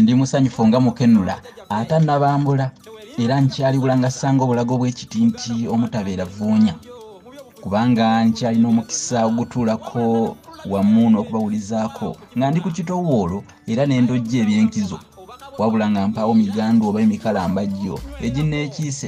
ndi musanyufu nga mukenula ate nabambula era nkyaliwula nga ssanga obulago bw'ekitinti omutabeera vuunya kubanga nkyalina omukisa ogutuulako wamu n'okubawulizaako nga ndi ku kitowoolo era ne ndojja ebyenkizo wabula nga mpaawo migandu oba emikalambajjo eginneekiise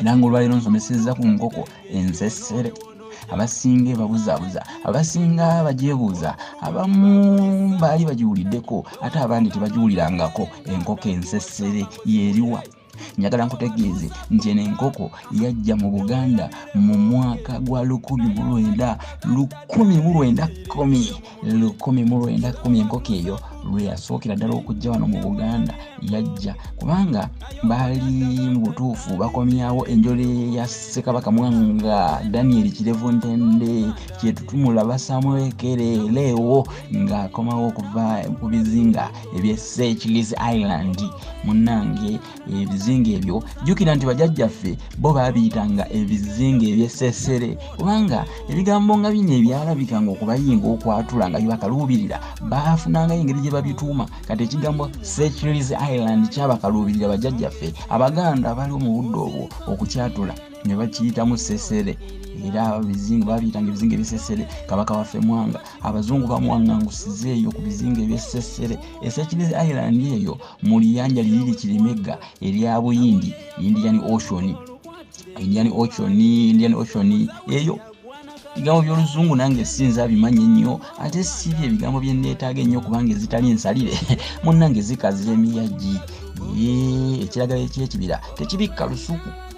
era nga olwaliro nsomeseza ku nkoko ensesere abasinga ebabuzabuza abasinga bagyebuuza abamu baali bagiwuliddeko ate abandi tebagiwulirangako enkoko ensesere yeriwa njagala nkutegeeze nti eno enkoko yajja mu buganda mu mwaka gwa 1 lukumi mu lwenda kumi lukumi mu lwenda kumi enkoko eyo lwe yasookera ddala okujja wano mu buganda yajja kubanga baali mu butuufu bakomyawo enjole ya ssekabaka mwanga daniel kirevu ntende kyetutumula basamwekere leewo ng'akomawo okuva ku bizinga ebye sechlis island munange ebizinga ebyo jjukira nti bajajjaffe bo baabiyitanga ebizinga ebyesesere kubanga ebigambo nga bino ebyalabika nga okubayinga okwatula nga bibakaluubirira baafunangayo engeri gye babituuma kati ekigambo secures island kyabakaluubirira bajajjaffe abaganda abaliwo mu budde obwo okukyatula ne bakiyitamu sesere era bizinga babiyitanga ebizinga ebisesere kabaka waffe mwanga abazungu bamwaŋŋangusiza eyo ku bizinga ebyessessere esekinezi island eyo mu liyanja liri likirimegga erya buyindi indian ocean indian ocean indian ocean eyo ebigambo by'oluzungu nange sinza abimanyi ennyo ate sibi ebigambo bye nneetaaga ennyo kubanga ezitali nsalire munnange zikazira emiyagi ekiragala ekyekibira tekibikka lusuku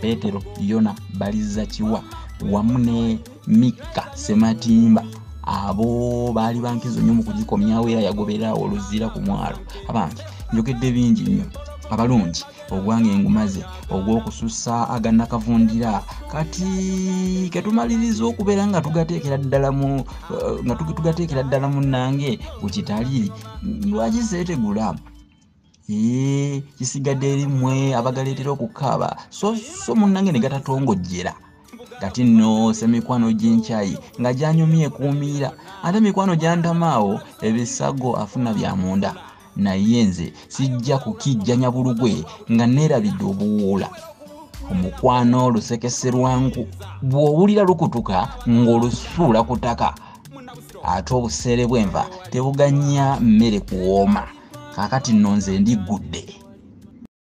petero yona balizza kiwa wamu ne mikka sematimba abo baali bankizo nnyo mu kugikomyawo era yagobererawo oluzira ku mwalo abange njogedde bingi nnyo abalungi ogwange ngumaze ogw'okususa aganakavundira kati ketumaliriza okubeera nga tugateekera ddala mu eh, nga tugateekera ddala munange ku kitali lwaki seetegula Eee, kisigadde eri mmwe abagaleetera okukaaba so so munnange ne gatatongojjera kati nno semikwano gy'enkyayi nga gyanyumya ekuumiira ate mikwano gyantamaawo ebisago afuna bya munda naye nze sijja kukijjanya bulugwe nga neerabidde obuwuula omukwano olusekese lwangu bw'owulira lukutuka ng'olusuula ku ttaka ate obuseere bwenva tebuganya mmere kuwooma kakati nno nze ndiggudde